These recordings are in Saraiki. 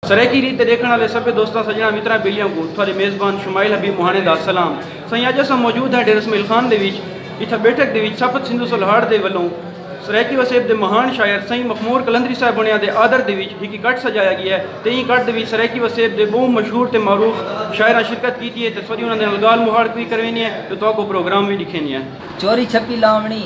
سرائیکی ریت تے ݙیکھݨ آلے سبھے دوستاں سڄݨاں متراں ٻیلیاں کوں تھاݙے میزبان شمائل حبیب مہاݨے دا سلام۔ سائیں اڄ اساں موجود ہاں ڈیرہ اسمعیل خان دے وچ جتھاں بیٹھک دے وچ سپت سندھو سلہاڑ دے ولوں سرائیکی وسیب دے مہاݨ شاعر سائیں مخمور قلندری صاحب ہوݨیاں دے آدر دے وچ ہکی کٹ سڄایا ڳیا تے ایں کٹ دے وچ سرائیکی وسیب دے ٻہوں مشہور تے معروف شاعراں شرکت کیتی ہے تے تھوݙی انہاں دے نال ڳالھ مہاڑ وی کرویندے ہیں تے تہاکوں پروگرام وی ݙکھیندے ہیں۔ چوری چھپی لاونڑی۔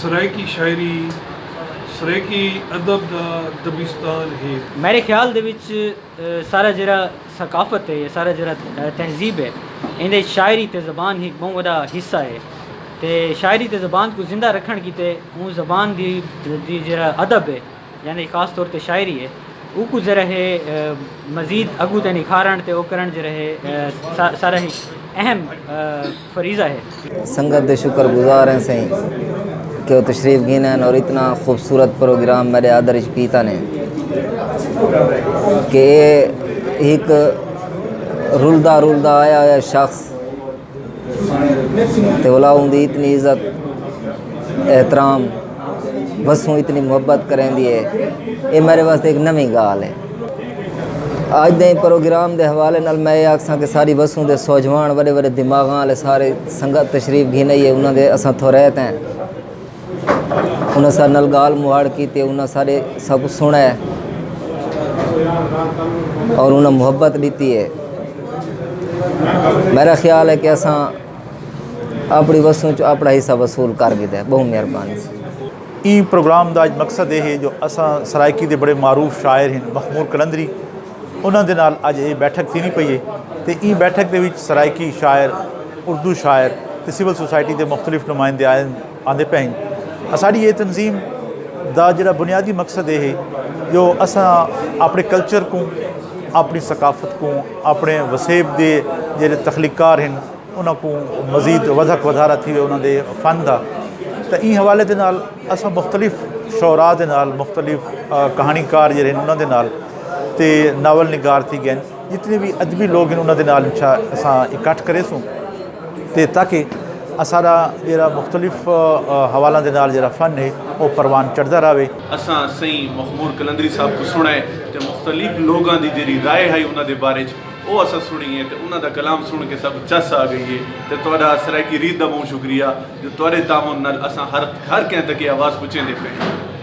سرائیکی شاعری سرائیکی ادب دا دبستان ہے۔ میڈے خیال دے وچ سارا جیرا ثقافت ہے یا سارا جیرا تہذیب ہے ایندے وچ شاعری تے زبان ہک بہوں وڈا حصہ ہے تے شاعری تے زبان کوں زندہ رکھن کیتے اوں زبان دی جیرا ادب ہے۔ یعنی خاص طور تے شاعری ہے اوکوں ذرا ہے مزید اگوں تے نکھارن تے او کرن ذرا ہے سارا ہی اہم فریضہ ہے۔ سنگت دے شکر گزار ہیں سئیں کہ او تشریف گھن آئن اور اتنا خوبصورت پروگرام میڈے آدر اچ کیتا نے کہ اے ہک رلدا رلدا آیا ہویا شخص تے اولا اوندی اتنی عزت احترام وسوں اتنی محبت کریں دی ہے اے میرے واسطے ایک نویں گال ہے آج دے پروگرام دے حوالے نال میں یہ آکھساں کہ ساری وسوں دے سوجوان وڈے وڈے دماغاں والے سارے سنگت تشریف گھن آئی ہے انہاں دے اساں تھوریت ہیں انہاں سارے نال گال مہاڑ کیتے انہاں سارے سب سنا ہے اور انہاں محبت دیتی ہے میرا خیال ہے کہ اساں اپنی وسوں چ اپنا حصہ وصول کر گئے بہت مہربانی ایں پروگرام دا اج مقصد اے ہے جو اساں سرائیکی دے بڑے معروف شاعر ہیں مخمور قلندری انہاں دے نال اج اے بیٹھک تھیندی پئی اے تے ایں بیٹھک دے وچ سرائیکی شاعر، اردو شاعر تے سول سوسائٹی دے مختلف نمائندے آندے پئے ہن۔ اساݙی اے تنظیم دا جیڑھا بنیادی مقصد اے ہے جو اساں آپݨے کلچر کوں، آپݨی ثقافت کوں، آپݨے وسیب دے جیڑھے تخلیق کار ہن انہاں کوں مزید ودھک ودھارا تھیوے انہاں دے فن دا تاں ایں حوالے دے نال اساں مختلف شعراء دے نال مختلف کہاݨی کار جیڑھے ہن انہاں دے نال تے ناول نگار تھی گئن جتنے بھی ادبی لوگ ہیں انہاں دے نال اساں اکٹھ کرے سوں تے تاکہ اساڈا جیرا مختلف حوالاں دے نال جیرا فن ہے او پروان چڑھدا راوے۔ اساں سئیں مخمور قلندری صاحب توں سنڑے تے مختلف لوگاں دی جیرھی رائے ہئی انہاں دے بارے وچ او اساں سنڑی ہے تے انہاں دا کلام سنڑ کے ساکوں چس آ گئی ہے تے تہاڈا سرائیکی ریت دا بہوں شکریہ جو تہاڈے تعاون نال اساں ہر کہیں تک اے آواز پہنچیندے پئے ہیں۔